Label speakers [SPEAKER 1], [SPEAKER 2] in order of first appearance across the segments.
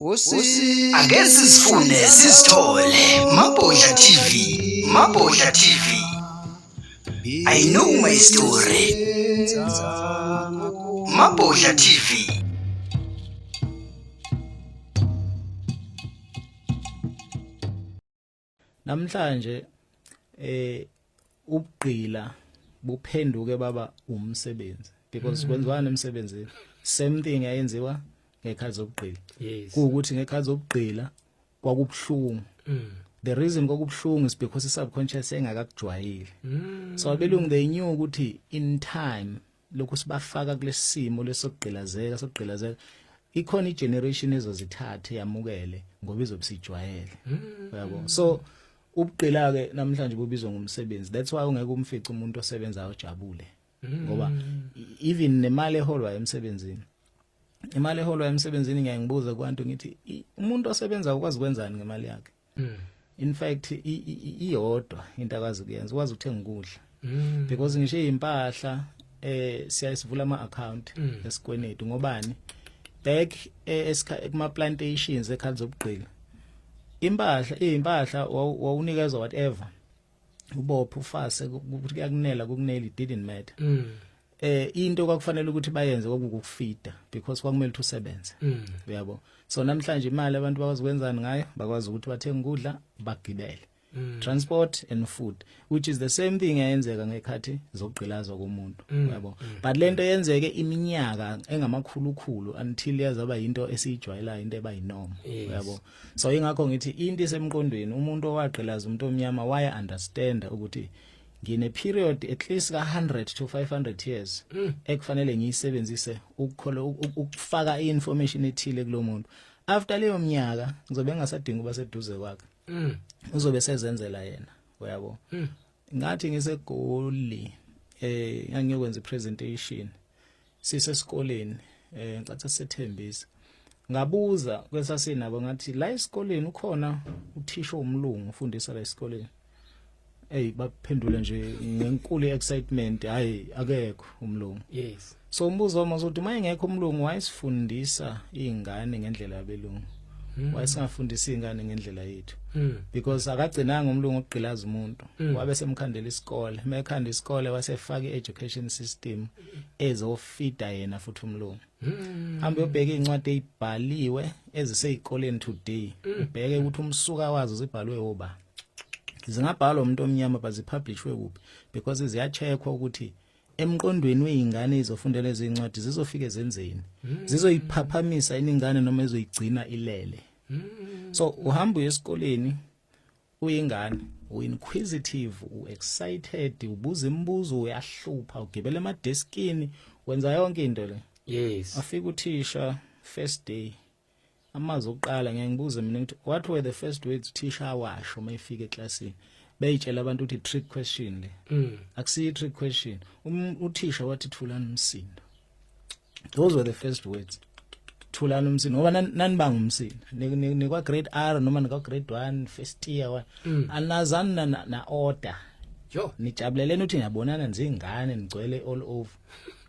[SPEAKER 1] Ake sizifune sizithole Mabhodla TV Mabhodla TV I know my story Mabhodla TV
[SPEAKER 2] namhlanje eh ubugqila buphenduke baba umsebenzi because mm. kwenziwani emsebenzini same thing ayenziwa ngekhathi zokugqila yes. kuwukuthi ngekhathi zokugqila kwakubuhlungu mm. the reason kwakubuhlungu is because i subconscious engakakujwayile mm. so abelungu they knew ukuthi in time lokhu sibafaka kulesimo lesokugqilazeka sokugqilazeka ikhona igeneration ezozithathe yamukele ngoba izobusijwayele hmm. yabo so ubugqila ke namhlanje bubizwa ngomsebenzi that's why ungeke umfice umuntu osebenzayo ojabule hmm. ngoba even nemali eholwa emsebenzini imali eholwa emsebenzini ngiyangibuza kwantu ngithi umuntu osebenza ukwazi kwenzani ngemali yakhe mm. in fact iyodwa into akazi kuyenza ukwazi ukuthenga ukudla mm. because ngisho impahla eh siyayisivula ama account mm. esikwenetu ngobani back eh, kuma plantations ekhali zobugqila impahla izimpahla wawunikezwa whatever ubopha ufase ukuthi kuyakunela kukuneli didn't matter mm. eh into kwakufanele ukuthi bayenze kwakukufida because kwakumele ukuthi usebenze mm. uyabo so namhlanje imali abantu bakwazi ukwenzani ngayo bakwazi ukuthi bathenge ukudla bagibele mm. transport and food which is the same thing eyenzeka ngekhathi zokugqilazwa komuntu mm. yabo mm. but lento yenzeke iminyaka engamakhulukhulu until yazaba into esiyijwayelayo into eba yinorm yes. yabo so ingakho ngithi into isemqondweni umuntu owagqilaza umuntu omnyama waya understand ukuthi ngine period at least ka 100 to 500 years mm. ekufanele ngiyisebenzise ukukhola ukufaka iinformation ethile kulomuntu after leyo mnyaka ngizobe ngasadinga uba seduze kwakhe mm. uzobe sezenzela yena uyabo mm. ngathi ngisegoli eh ngangiyokwenza presentation sisesikoleni eh ngicatha sethembisa ngabuza kwesasinabo ngathi la esikoleni ukhona uthisha omlungu ufundisa la esikoleni hey baphendule nje ngenkulu excitement hayi akekho umlungu yes so umbuzo
[SPEAKER 3] wami uzothi
[SPEAKER 2] uma engekho umlungu wayesifundisa izingane ngendlela yabelungu Mm. wayesingafundisa ingane ngendlela yethu mm. because akagcinanga umlungu ogqilaza umuntu mm. wabe semkhandela isikole mekhanda isikole wasefaka i-education system ezofida yena futhi umlungu hmm. hambe ubheke incwadi ezibhaliwe ezisezikoleni today hmm. ubheke ukuthi umsuka wazo zibhalwe oba zingabhalwa umuntu omnyama bazipublishwe kuphi because ziyacheckwa ukuthi emqondweni weingane izofundela ezincwadi zizofike zenzeni hmm. zizoyiphaphamisa iningane noma ezoyigcina ilele so uhamba uye esikoleni uyingane uinquisitive uexcited ubuza imibuzo uyahlupha ugibela emadeskini wenza yonke into le yes afika
[SPEAKER 3] uthisha
[SPEAKER 2] first day amazwi okuqala ngeke ngibuze mina ukuthi what were the first words uthisha awasho uma efika eclassini beyitshela abantu ukuthi trick question le mm. akusiyi trick question um, uthisha wathi thulani umsindo those were the first words thulani umsini ngoba nanibanga umsini nikwa grade R noma nikwa grade 1 first year wa mm. anazani na, na order jo
[SPEAKER 3] nijabuleleni uthi
[SPEAKER 2] niyabonana nzingane nigcwele all over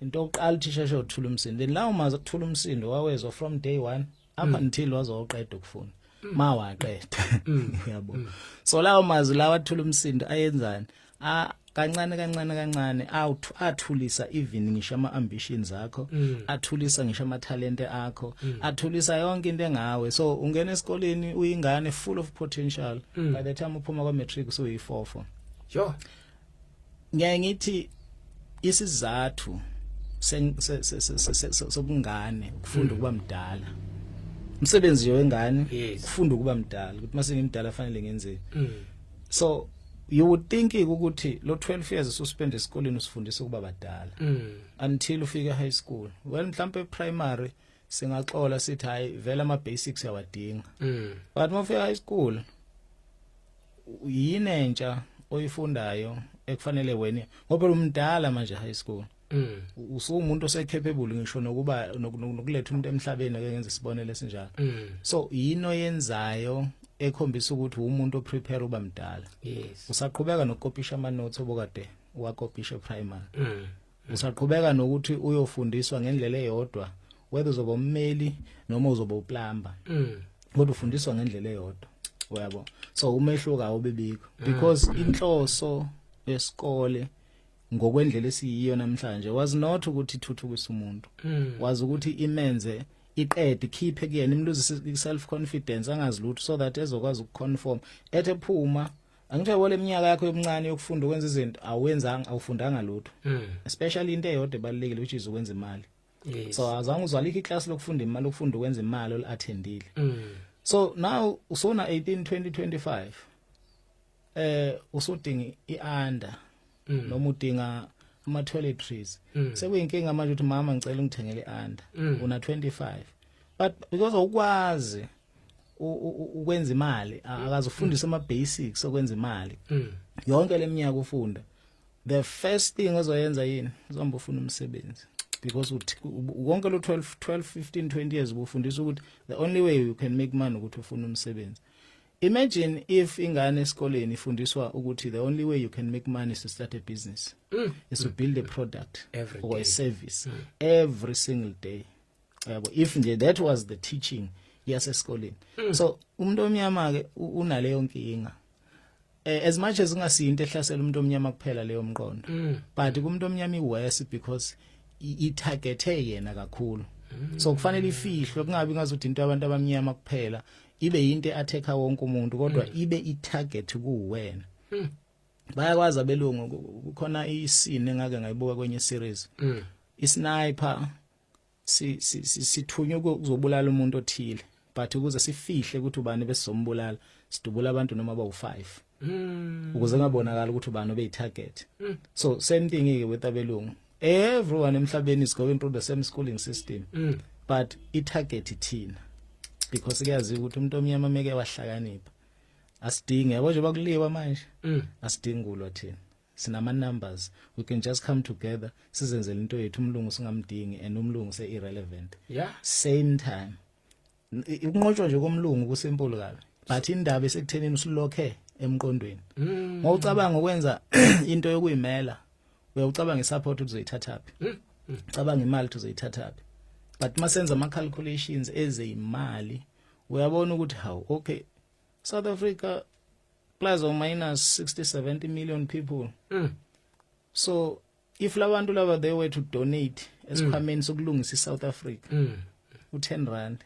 [SPEAKER 2] into oqala uthisha shothula umsini then lawo mazi kuthula umsindo wawezwa from day 1 up until wazoqeda ukufunda mawaqeda yabo so lawo mazwi lawa athula umsindo ayenzani a kancane kancane kancane awuthu athulisa even ngisho ama ambitions akho mm. athulisa ngisho ama talent akho mm. athulisa yonke into engawe so ungena esikoleni uyingane full of potential mm. by the time uphuma kwa matric so uyifofo sure
[SPEAKER 3] ngiyaye
[SPEAKER 2] ngithi isizathu sobungane ukufunda ukuba mdala umsebenzi yo wengane ukufunda ukuba mdala ukuthi mase ngimdala fanele ngenzeni mm. so you would think ukuthi lo 12 years ususpend esikoleni usifundisa ukuba badala mm. until ufike high school well mhlambe primary singaxola sithi hayi vela ama basics yawadinga mm. but mafika high school yini entsha oyifundayo ekufanele wena ngoba umdala manje high school Mm. usumuntu osekhepable ngisho nokuba nokuletha umuntu emhlabeni ake ngenze isibonelo esinjalo mm. so yino yenzayo ekhombisa ukuthi umuntu oprepare uba mdala yes usaqhubeka
[SPEAKER 3] nokukopisha
[SPEAKER 2] ama notes obokade wakopisha primary mm. Usaqhubeka nokuthi uyofundiswa ngendlela eyodwa whether uzoba ummeli noma uzoba uplumber. Mm. Kodwa ufundiswa ngendlela eyodwa. Uyabo? So umehluko awubibikho mm. because inhloso yesikole ngokwendlela esiyiyo namhlanje was not ukuthi ithuthukisa umuntu. Mm. Was ukuthi imenze iqede khiphe kuyena imluzisa self confidence angazi lutho so that ezokwazi ukuconform ethe phuma Angithe wole minyaka yakho yobuncane yokufunda ukwenza izinto awenzanga awufundanga lutho. Mm. Especially into eyodwa ebalekile which is ukwenza imali. Yes. So azange uzwalikho iclass lokufunda imali ukufunda ukwenza imali olattendile. Mm. So now usona 18 2025 eh usudinga ianda mm. noma udinga ama toiletries mm. sekuyinkinga manje ukuthi mama ngicela ungithengele ianda mm. una 25 but because awukwazi ukwenza imali akazofundisa ama basics okwenza imali mm. yonke leminyaka ufunda the first thing ozoyenza yini uzohamba ufuna umsebenzi because wonke lo 12 12 15 20 years ubufundisa ukuthi the only way you can make money ukuthi ufuna umsebenzi imagine if ingane esikoleni ifundiswa ukuthi the only way you can make money is to start a business mm. is to build a product every or day. a service mm. every single day yabo if nje that was the teaching yasesikoleni mm. so umuntu omnyama ke unaleyo nkinga eh, as much as ungasinto ehlasela umuntu omnyama kuphela leyo mqondo mm. but kumuntu omnyama iworse because i targethe yena kakhulu mm. so kufanele ifihlwe kungabi ngazuthi into abantu abamnyama kuphela ibe yinto eatheka wonke umuntu kodwa mm. ibe i target kuwena mm. bayakwazi abelungu kukhona isine ngake ngayibuka kwenye series mm. isniper sithunywe ukuzobulala umuntu othile but ukuze sifihle ukuthi ubani besizombulala sidubula abantu noma bawu5 hmm. ukuze ngabonakala ukuthi ubani obeyi target hmm. so same thing ke with abelungu everyone emhlabeni is going through the same schooling system hmm. but i target ithina because kuyaziwa ukuthi umuntu omnyama meke wahlakanipha asidingi yabo nje bakuliwa manje asidingi kulwa thina sinama numbers we can just come together sizenzele into yethu umlungu singamdingi and umlungu se irrelevant yeah same time ukunqotshwa nje komlungu kusimple kabi but indaba esekuthenini usilokhe emqondweni mm. ngocabanga ukwenza into yokuyimela uyawucabanga isupport uzoyithathaphi mm. mm. cabanga imali uzoyithathaphi but masenza ama calculations ezeyimali uyabona ukuthi hawu okay South Africa plus or minus 60 70 million people mm. so if labantu laba they were to donate esikhwameni mm. sokulungisa iSouth Africa mm. u10 rand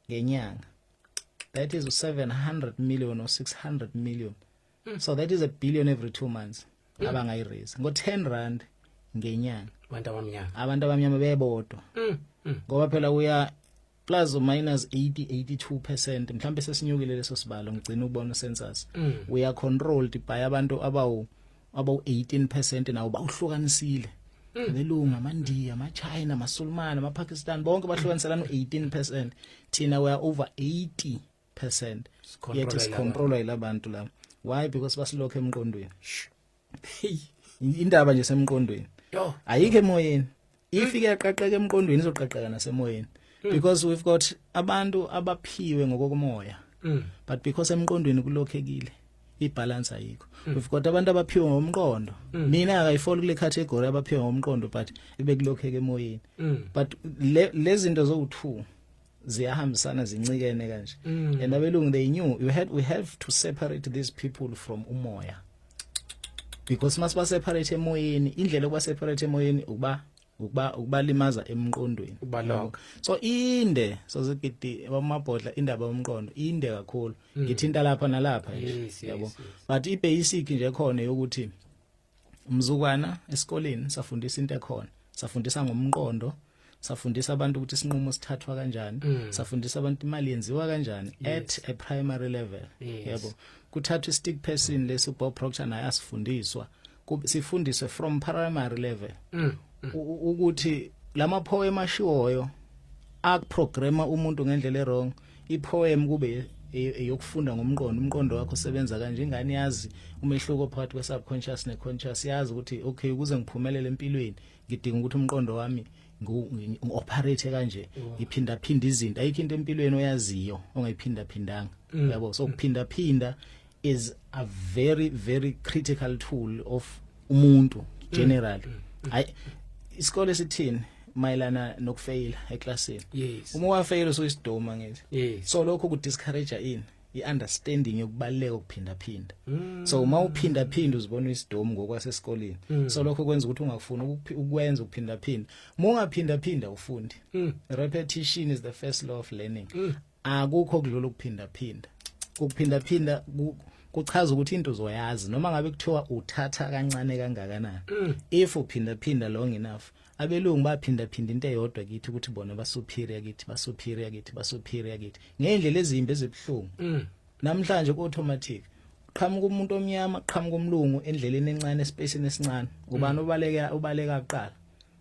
[SPEAKER 2] ngenyanga that is 700 million or 600 million mm. so that is a billion every 2 months mm. abangayi raise ngo 10 rand ngenyanga abantu abamnyama abantu abamnyama bebodwa mm. mm. ngoba phela uya plus or minus 80 82% mhlambe sesinyukile leso sibalo ngicina ukubona census mm. we are controlled by abantu abawu abawu 18% nawo bawuhlukanisile mm. belunga amandiya amachina amasulumane amapakistan bonke bahlukaniselana u18% thina we are over 80 percent yethu sicontrola yilabantu laba why because basilokho emqondweni indaba nje semqondweni ayikho emoyeni if hmm. iyaqaqeka emqondweni izoqaqeka nasemoyeni hmm. because we've got abantu abaphiwe ngokokumoya hmm. but because emqondweni kulokhekile ibalance ayikho we've got abantu abaphiwe ngomqondo mina akayifoli kule category abaphiwe ngomqondo but ebekulokheke emoyeni but lezinto zowu2 ziyahambisana zincikene kanje mm. and abelungu they knew you had we have to separate these people from umoya because masiba separate emoyeni indlela yokuba separate emoyeni ukuba ukuba ukubalimaza emqondweni ubaloka so inde so zigidi bamabhodla indaba yomqondo inde kakhulu mm. ngithinta lapha nalapha yabo but i basic nje khona yokuthi umzukwana esikoleni safundisa into ekhona safundisa ngomqondo safundisa abantu ukuthi isinqumo sithathwa kanjani mm. safundisa abantu imali yenziwa kanjani yes. at a primary level yes. yebo kuthathwa istick person lesi Bob Proctor naye asifundiswa sifundiswe from primary level mm. mm. ukuthi lama poem ashiwoyo akuprograma umuntu ngendlela erong mm. ipoem kube eyokufunda ngomqondo umqondo wakho usebenza kanje ingane yazi umehluko phakathi kwe subconscious ne conscious yazi ukuthi okay ukuze ngiphumelele empilweni ngidinga ukuthi umqondo wami ngi-operate kanje ngiphinda phinda izinto ayikho into empilweni oyaziyo ongayiphinda phindanga mm. yabo so kuphinda phinda is a very very critical tool of umuntu mm. generally mm. ay isikole sithini mayelana nokufeyila eclassini yes. uma wafeyila
[SPEAKER 3] usuyisidoma
[SPEAKER 2] ngithi yes. so lokho ku
[SPEAKER 3] discourage
[SPEAKER 2] ini iunderstanding yokubaleka ukuphinda phinda mm. so uma uphinda phinda uzibona isidomu ngokwasesikoleni mm. so lokho kwenza ukuthi ungafuni ukwenza ukuphinda phinda uma ungaphinda phinda ufundi mm. repetition is the first law of learning mm. akukho kudlula ukuphinda phinda ukuphinda phinda kuchaza ukuthi into uzoyazi noma ngabe kuthiwa uthatha kancane kangakanani mm. if uphinda phinda long enough abelungu baphinda phinda into eyodwa kithi ukuthi bona basuperior kithi basuperior kithi basuperior kithi ngendlela ezimbi ezibhlungu mm. namhlanje ku automatic qhamuka umuntu omnyama qhamuka umlungu endleleni encane espacini esincane ubani mm. obaleka obaleka kuqala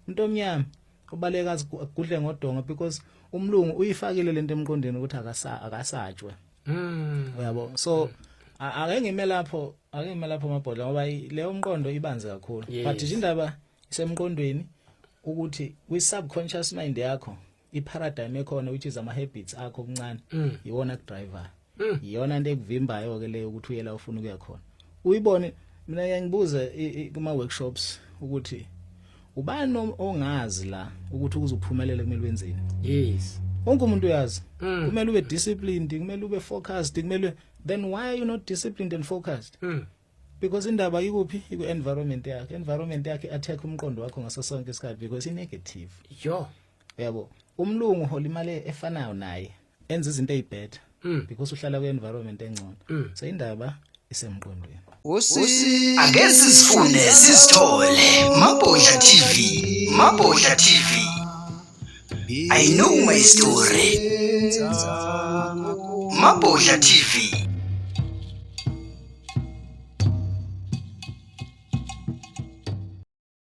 [SPEAKER 2] umuntu omnyama ubaleka agudle ngodonga because umlungu uyifakile lento emqondweni ukuthi akasa akasatshwe mm uyabo so ake ngime lapho ake ngime lapho mabhodla ngoba leyo umqondo ibanzi kakhulu yes. but indaba isemqondweni ukuthi kwi subconscious mind yakho i paradigm ekhona which is ama habits akho okuncane mm. iwona driver Mm. iyona into ekuvimbayo ke leyo ukuthi uyela ufuna ukuya khona uyibone mina ngiyangibuza kuma workshops ukuthi ubani ongazi la ukuthi ukuze uphumelele kumele wenzeni yes
[SPEAKER 3] wonke umuntu uyazi
[SPEAKER 2] mm. kumele ube disciplined kumele ube focused kumele then why are you not disciplined and focused mm. because indaba ikuphi iku environment yakhe environment yakhe attack umqondo wakho ngaso sonke isikhathi because i negative yo yabo umlungu hola imali efanayo naye enza izinto ezibetter mm. because uhlala kwi environment engcono mm. so indaba isemqondweni usi
[SPEAKER 1] ake sizifunde sizithole mabhodla tv mabhodla tv i know my story mabhodla tv